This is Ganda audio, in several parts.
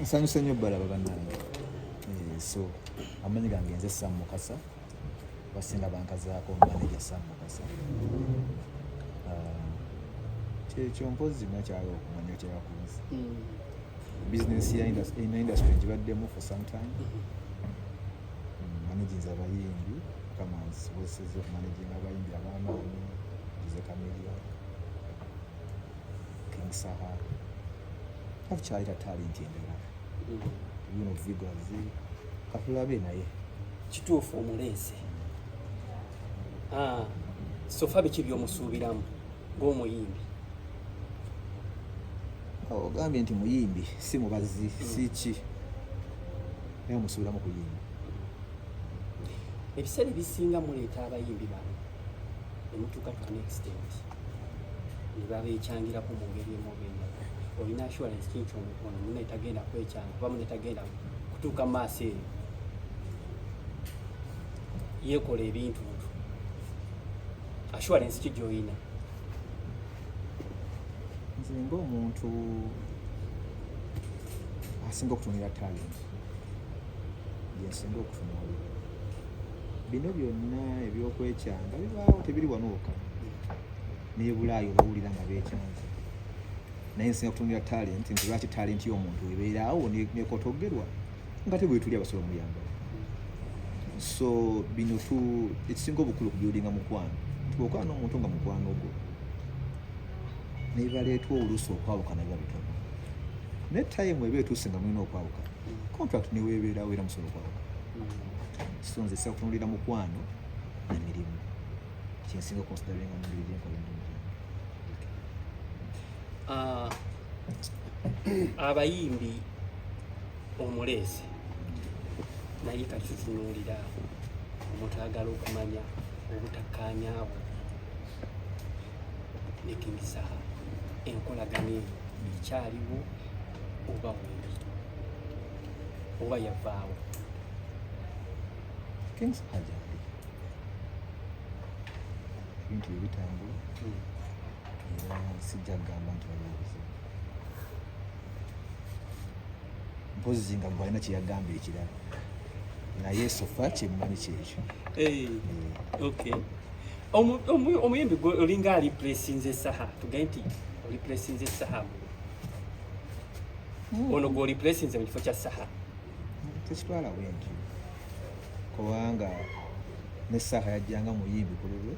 nsanyuse nnyo balaba bannange eh, so amanyi gange nze sam mukasa basinga bankazaako maneja sam mukasa ah, kyekyo mpozi nakyala okumanya kyebakunzi hmm. bizinesi ya industry ngibaddemu for some time managinza hmm, abayimbi kamanzi boseza okumanaginga abayimbi abamaanyi ngize kameria king sahara takyaleta talenti endala yuno mm. vigors katulabe naye kituufu omuleese ah, sofa biki byomusuubiramu ngaomuyimbi ogambye nti muyimbi si mubazi mm. siki naye omusuubiramu kuyimba ebiseera ebisinga muleeta abayimbi bano emutuuka to an extent ne babeekyangirako mu ngeri emu oba endala olina assurance kinki ono mune tagenda kwekyanga kuba mune tagenda kutuuka maaso eyo yeekola ebintu ntu assurance ki gy'olina nze ngaomuntu asinga okutunira talenti yesinga okutunuulira bino byonna ebyokwekyanga bibaawo tebiri wano wokka naye bulaayi obawulira nga bekyanza naye nsinga kutumira talenti nti lwaki talenti y'omuntu ebeeraawo nekotogerwa nga tebwetuli abasobola omuyamba so bino tu ekisinga obukulu kubyodinga mukwano nti bwokola n'omuntu nga mukwano gwo nebaleetwa oluusi okwawukana biba bitono naye tayimu eba etuuse nga mulina okwawukana contract neweebeerawo era musobola okwawukana so nze sakutunulira mukwano na mirimu kyensinga considering omubiri gyenkola emirimu ah, abayimbi omuleese naye kati tutunuulira omuntu agala okumanya obutakkaanya bwo ne King Saha enkolagana eyo ekyaliwo oba wembi oba yavaawo kings aja ebintu ebitambula hmm. era sijja kugamba nti waliwo obuzibu mpozi nga gwalina kyeyagamba ekirala naye sofa kyemmanyi kyekyo eh, eh. omuyimbi gwe olinga alipulesinze esaha tugae nti olipulesinze esaha ono gwoli placinze mu kifo kya saha tekitwala bwenti kubanga ne saha yajjanga muyimbi ku lulwe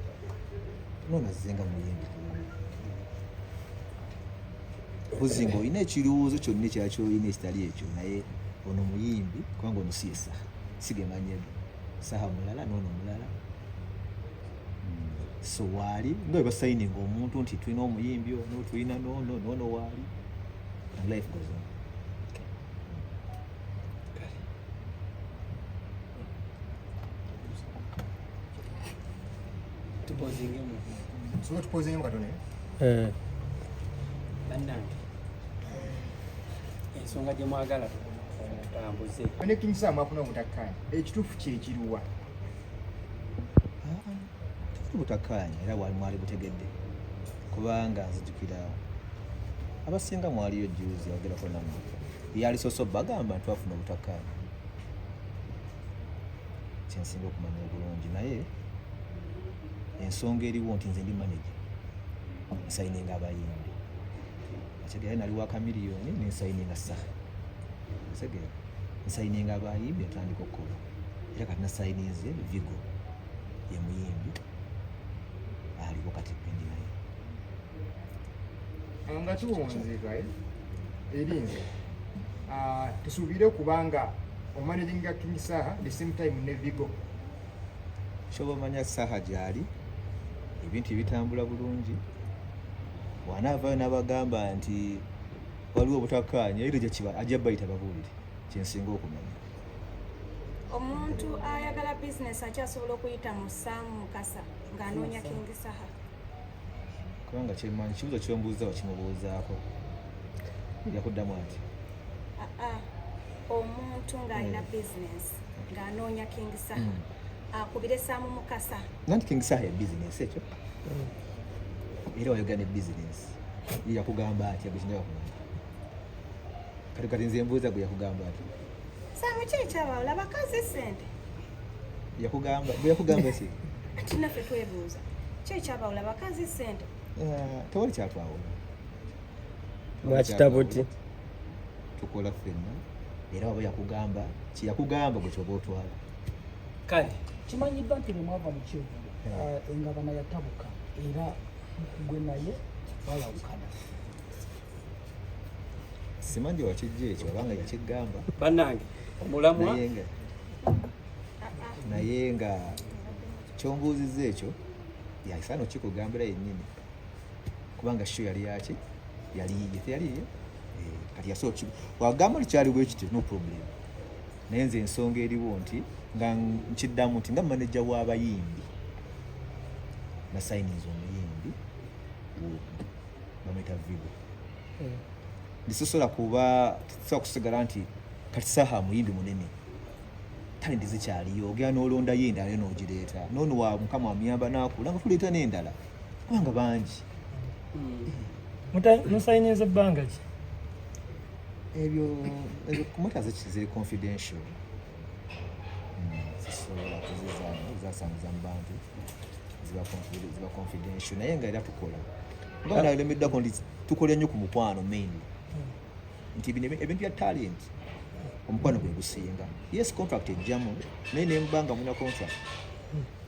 nonazzenga muyimbi ku lulwe mpozi nga olina ekirowoozo kyonna ekyala kyolina ekitali ekyo naye ono muyimbi kubanga ono si ye saha sigemanyega saha mulala noono mulala so waali nga bwe basayininga omuntu nti tulina omuyimbi ono tulina nono nono waali and life goes on eh. bannange ensonga gye mwagala tutambuze nekinyisa mwafuna obutakkaanya ekituufu kyekiruwa butakkaanya era wali mwali butegedde kubanga nzijukira abasinga mwaliyo juzi ayogerako namwe yali soso bagamba nti wafuna obutakkaanya kyensinga okumanya obulungi naye ensonga eriwo nti nze ndi manaje nsayininga abayimbi ntegera nali wa kamiliyoni nensayininga saha ntegera nsayininga abayimbi atandika okukola era kati nasayininze vigo ye muyimbi aliko kati pendi naye ah, nga kiwonzeka eh? eri nze ah, tusuubire kubanga omanaginga king saha the same time ne vigo kyoba omanya saha gyali ebintu ebitambula bulungi wanaavayo nabagamba nti waliwo obutakkaanya era gyekiba ajja bayita babuulire kyensinga okumanya omuntu ayagala bizinesi akyasobola okuyita mu saamu mukasa ng'anoonya kingi saha kubanga kyemanyi kibuzo kyombuuza wakimubuuzaako nja kuddamu ati ah, ah. omuntu ng'alina mm. business ng'anoonya king saha mm. akubire ah, saamu mukasa nanti king saha ya business ekyo mm. era wayogera ne business ye yakugamba atya gwe kinaba kumanya kati kati nze mbuuza gwe yakugamba atya saamu ki ekyabawula bakazi sente yakugamba gwe yakugamba si ati naffe twebuuza ki ekyabawula bakazi sente eh, tewali kyatwawula mwakitabuti tukola fenna era waba yakugamba kyeyakugamba gwe kyoba otwala kale kimanyiddwa nti bwemwava mu kyevulu eh, engabana yatabuka era gwe naye balawukana simanyi wakijja ekyo obanga yakigamba bannange omulamwa naye nga kyombuuziza ekyo yaisano kikugambira yennyini kubanga sho yali yaki yali yiye teyali yiye eh, kati yasooka wagamba oli kyali bwekityo no problem naye nze ensonga eriwo nti nga nkiddamu nti nga maneja w'abayimbi nasayiniza omuyimbi bamwita vigo hmm. ndisosola kuba tusobola kusigala nti kati saha muyimbi munene talenti zikyaliyo ogenda n'olondayo endala yo n'ogireeta noono wa mukama amuyamba n'akula nga tuleeta n'endala kubanga bangi hmm. musayiniza ebbanga ki ebyo ezo kumota ziri confidential zisobola hmm, kuzizaamu zasanguza mu bantu ziba confidential naye nga era tukola nga nalemeddako nti tukola nnyo ku mukwano mainly hmm. nti ebintu bya talent omukwano gwe gusinga yes contract ejjamu naye nemubanga muna contract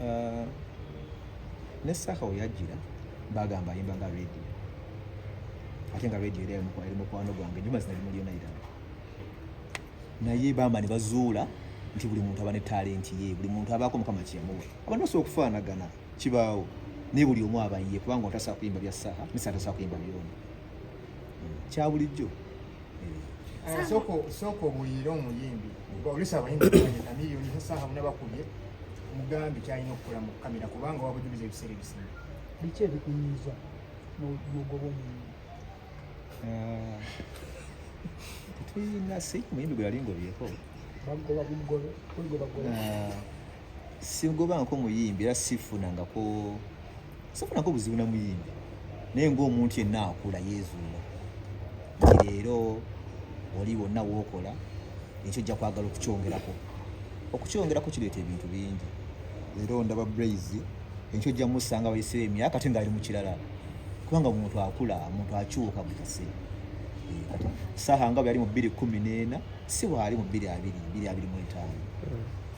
uh, ne saka weyajjira bagamba ayimba nga radio ate nga radio era eri mukwano gwange nyuma zina limu lyona irala naye bamba ne bazuula nti buli muntu aba ne talenti ye buli muntu abaako mukama kyemuwe abantu basobola okufaanagana kibaawo naye buli omu abayiye kubanga otasobola kuyimba bya saha misa atasobola kuyimba byona hmm. kyabulijjo soko soko buyira omuyimbi olisa abayimbi na miliyoni sasa hamu nabakubye mugambi kyalina okukola mu kamera kubanga wabujuliza ebiseera ebisinga biki ebikunyiza mugoba omuyimbi ah, tulina si muyimbi gwe yali ngobyeko bagoba bugobe kuligobagoba ah, sigobanko muyimbi era sifunangako sifunako buzibu na muyimbi naye ng'omuntu yenna akula yeezuula nti leero oli wonna wookola ekyo ojja kwagala okukyongerako okukyongerako kireeta ebintu bingi leero ndaba braizi enkyo ojja musanga wayiseewo emyaka ate ngaali mu kirala kubanga omuntu akula omuntu akyuka buli kaseera saha nga bweyali mu bbiri kumi n'ena si waali mu bbiri abiri bbiri abiri mu etaano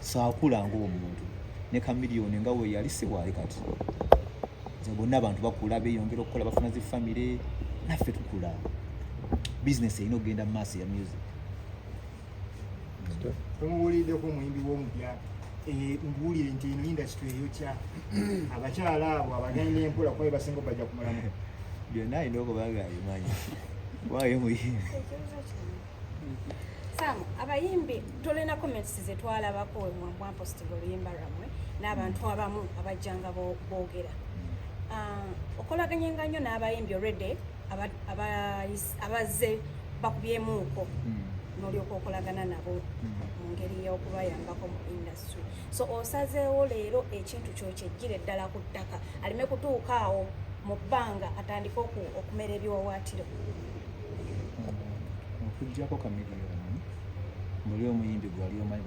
saakula ng'omuntu ne kamiliyoni nga we yali si waali kati nze bonna abantu bakula beeyongera okukola bafuna zi famire naffe tukula bizinesi erina okugenda mu maaso ya music tomubuuliddeko omuyimbi w'omupya eh, mbuulire nti eno indasitry eyokya abakyala abo abagenda empola kuba bebasinga obajja kumulamu byonna alina okuba nga abimanyi waayo muyimbi Samu, abayimbi tolina comments ze twalabako we mwambwa mposting oluyimba lwamwe n'abantu abamu abajjanga boogera ah, okolaganye nga nnyo n'abayimbi olwedde abazze bakubyemuuko hmm. n'olyoka okolagana nabo hmm. mu ngeri y'okubayambako mu industry so osazeewo leero ekintu kyokyejjire ddala ku ttaka aleme kutuuka awo mu bbanga atandike okumera ebiwawaatiro okujjako kamiliyoni muli omuyimbi gwali omanyi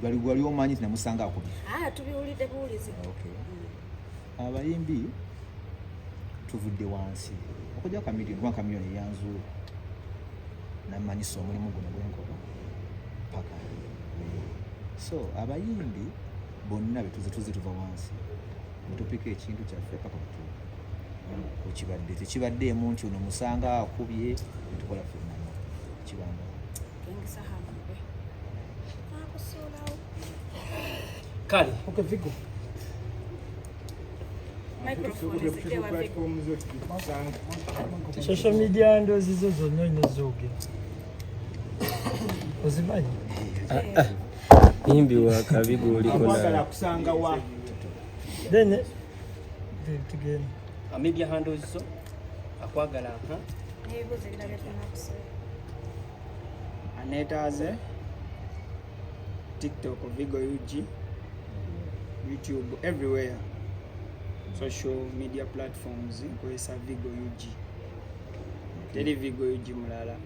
gwali gwali omanyi nti namusanga akubye ah, tubiwulidde buwulizi mm. abayimbi tuvudde wansi okujjako kamiliyoni kuba kamiliyoni eyanzuula namanyisa omulimu guno gwenkola paka so abayimbi bonna betuze tuze tuva wansi mutupika ekintu kyaffe paka kutu okibadde tekibaddeemu nti ono musanga akubye netukola fenana kibanga kale okay, vigo social media ndozi zo zonna oina ozimanyi eh. Imbi wa kabi goli kona. Mwagala kusanga wa. Then eh, again. A media handle is so. Akwagala ha. Nigo zenda betona kusa. Aneta aze. TikTok, Vigo UG, YouTube, everywhere. Social media platforms, nkozesa Vigo UG. Teri Vigo UG mulala.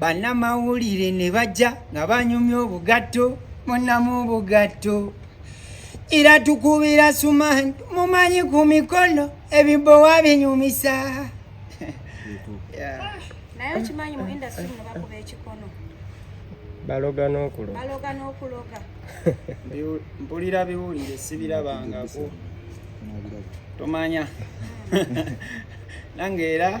bannamawulire ne bajja nga banyumya obugatto munamu obugatto era tukubira sumani mumanyi ku mikono ebibowa binyumisa naye okimanyi mu industry muno bakuba ekikono baloga n'okuloga baloga n'okuloga mpulira biwulire sibirabangako tomanya nange era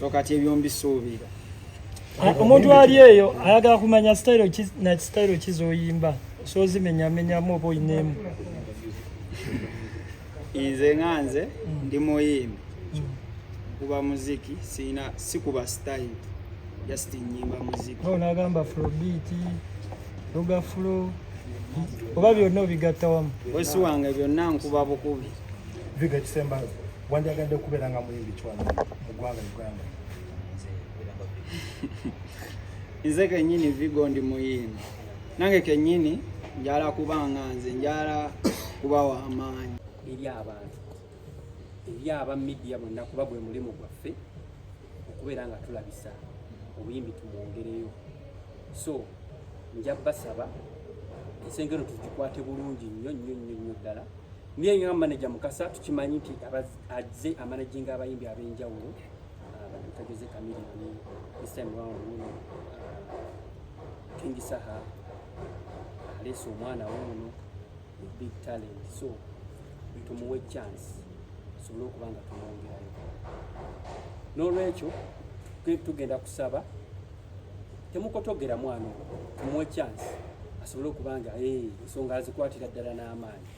so kati ebyombi suubira omuntu ali eyo ayagala kumanya sitayiro ki na kisitayiro ki zoyimba sozimenyamenyamu oba oyineemu nze nga nze ndi muyimbi kuba muziki sina sikuba style just nyimba muziki no nagamba afrobeat luga flow oba byonna obigatta wamu wesi wange byonna nkuba bukubi viga kisembazo Wandyagadde okubeera nga muyimbi ki wano mu ggwanga Uganda? Nze kennyini Vigo ndi muyimbi. Nange kennyini njala kuba nga nze njala kuba wa maanyi eri abantu eri aba midiya bonna kuba gwe mulimu gwaffe okubeera nga tulabisa obuyimbi tumwongereyo so nja basaba ensengero tugikwate bulungi nnyo nnyo nnyo nnyo ddala Niye nga manager Mukasa tukimanyi nti azze amanajinga abayimbi ab'enjawulo batageze ah, kamiri ni this time round muno ah, King Saha alese ah, omwana we muno big talent so tumuwe chance tusobole okuba nga tumwongerayo n'olwekyo tugenda kusaba temukotogera mwana tumuwe chance asobole okuba nga eh, ensonga azikwatira ddala n'amaanyi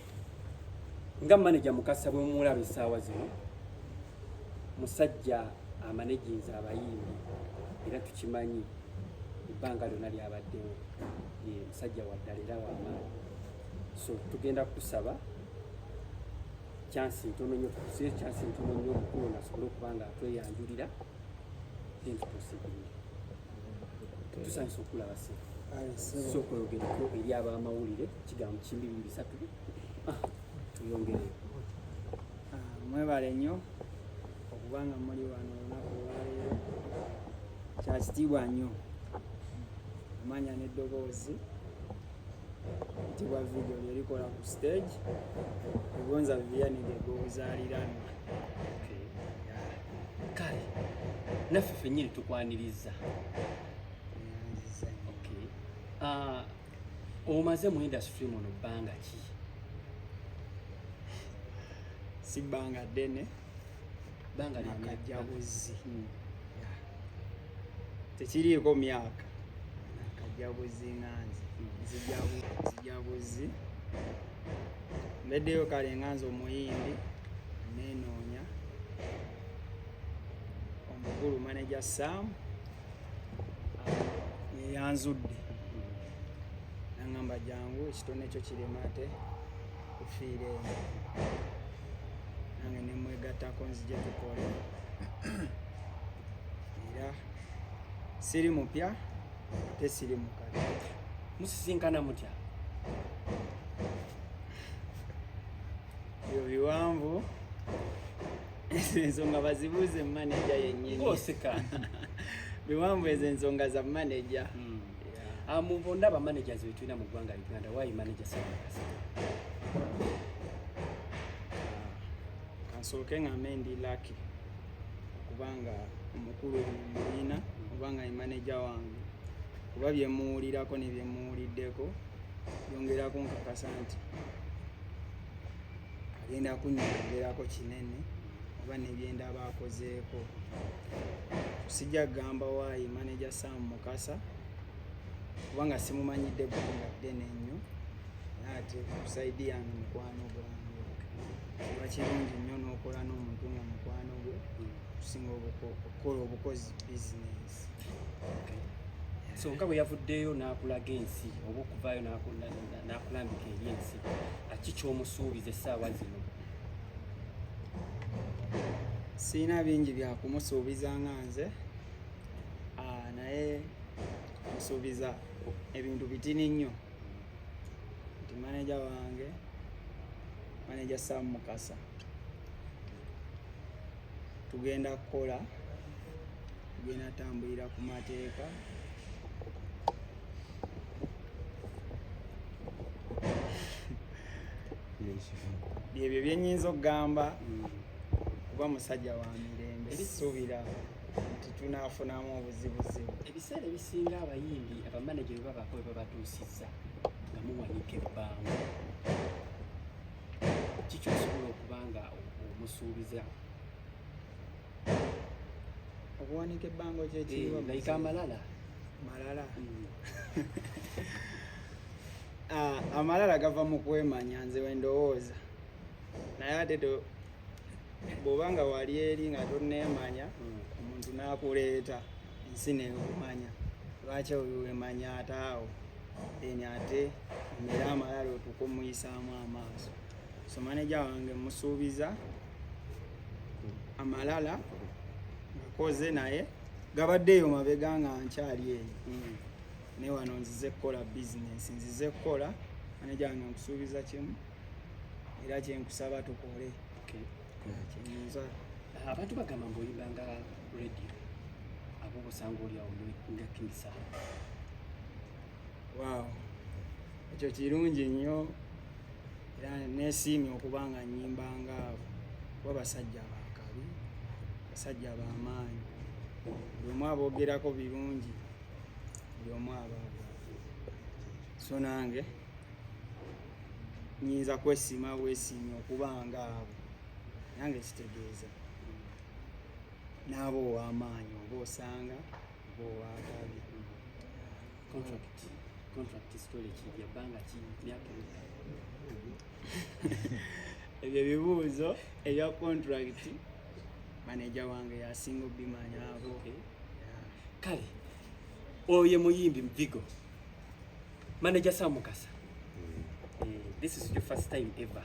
nga maneja mukasa bwe mumulaba essaawa zino musajja amanejinza abayimbi era tukimanyi ebbanga lyona lyabaddewo ye musajja waddala era wamaani so tugenda kusaba kyansi ntono nyo tusiyo kyansi ntono nyo omukulu nasobole okuba nga atweyanjulira then tuproceeding tusanyusa okulaba se so okweyogereko eri abamawulire kigambo kimbi biri bisatu ah, tuyongere ah, mwebale nnyo okuba nga muli wano olunaku olwaleero kyakitiibwa nnyo amanya n'eddoboozi tibwa video lyerikola ku stage egonza vivianide gwobuzaliranwa kale naffe fenyini tukwaniriza ah, omaze mu industry muno bbanga ki si bbanga ddene bbanga lyakajjabuzi hmm. tekiriiko myaka kajabuzi nga nze nzijabuzi mbeddeyo kale nga nze omuyindi nenoonya omukulu maneja sam yeyanzudde nangamba jangu ekitone kyo kiremate kufiire nange nemwegattako nzije tukole era siri mupya ate siri mukadde musisinkana mutya ebyo biwanvu ezo ensonga bazibuuze mu maneja yennyini biwanvu ezo ensonga za maneja hmm. Ah, mu bo ndaba managers be tulina mu ggwanga Uganda why manager Ssemakasi kansooke ah, ngambe ndi lucky kubanga omukulu muyina kubanga ye maneja wange kuba byemuwulirako ne byemuwuliddeko yongera kunkakasa nti agenda kunyongerako kinene oba nebyendaba akozeeko sijja kugamba waayi maneja sam mukasa kubanga simumanyidde ggwanga ddene nnyo ate kusaidi yange mukwano gwange oba kirungi nnyo n'okola n'omuntu nga mukwano gwe okusinga okukola obukozi bizinesi so nga bwe yavuddeyo n'akulaga ensi oba okuvaayo n'akulambika eri ensi aki kyomusuubiza essaawa zino sirina bingi bya kumusuubiza nga nze ah, naye musuubiza ebintu bitini nnyo nti maneja wange maneja sam mukasa tugenda kukola tugenda tambulira ku mateeka byebyo byenyinza okugamba kuba musajja wa mirembe suubira nti tunafunamu obuzibuzibu ebiseera ebisinga abayimbi abamaneja bebabako bebabatuusiza nga muwanika ebbanga kikyosobola okuba nga omusuubiza okuwanika ebbango kyekiriwa eh, like amalala malala hmm. ah, amalala gava mu kwemanya nze wendowooza naye ate bwoba nga wali eri nga toneemanya hmm. omuntu n'akuleeta ensi neekumanya lwaki oyo wemanya ate awo then ate omere amalala otuuka omuyisaamu amaaso so maneja wange musuubiza amalala ngakoze naye gabadde eyo mabega nga nkyali eyo hmm. ne wano nzize kukola bizinesi nzize kukola maneja wange nkusuubiza kimu era kyenkusaba tukole kyenyinza abantu bagamba mbu oyimba nga radio abo obusanga olyawo nga kinsaba waaw ekyo kirungi nnyo era nesiimye okuba nga nyimba nga kuba basajja bakabi basajja bamaanyi buli omu aboogerako birungi buli omu abaaga so nange nyinza kwesiima wesiimye okuba nga abo nange kitegeeza n'aba ow'amaanyi oba osanga ebyo ebibuuzo ebya contract maneja wange yasinga obimanyako kale oyo muyimbi mvigo maneja samukasa mm. eh, this is your first time ever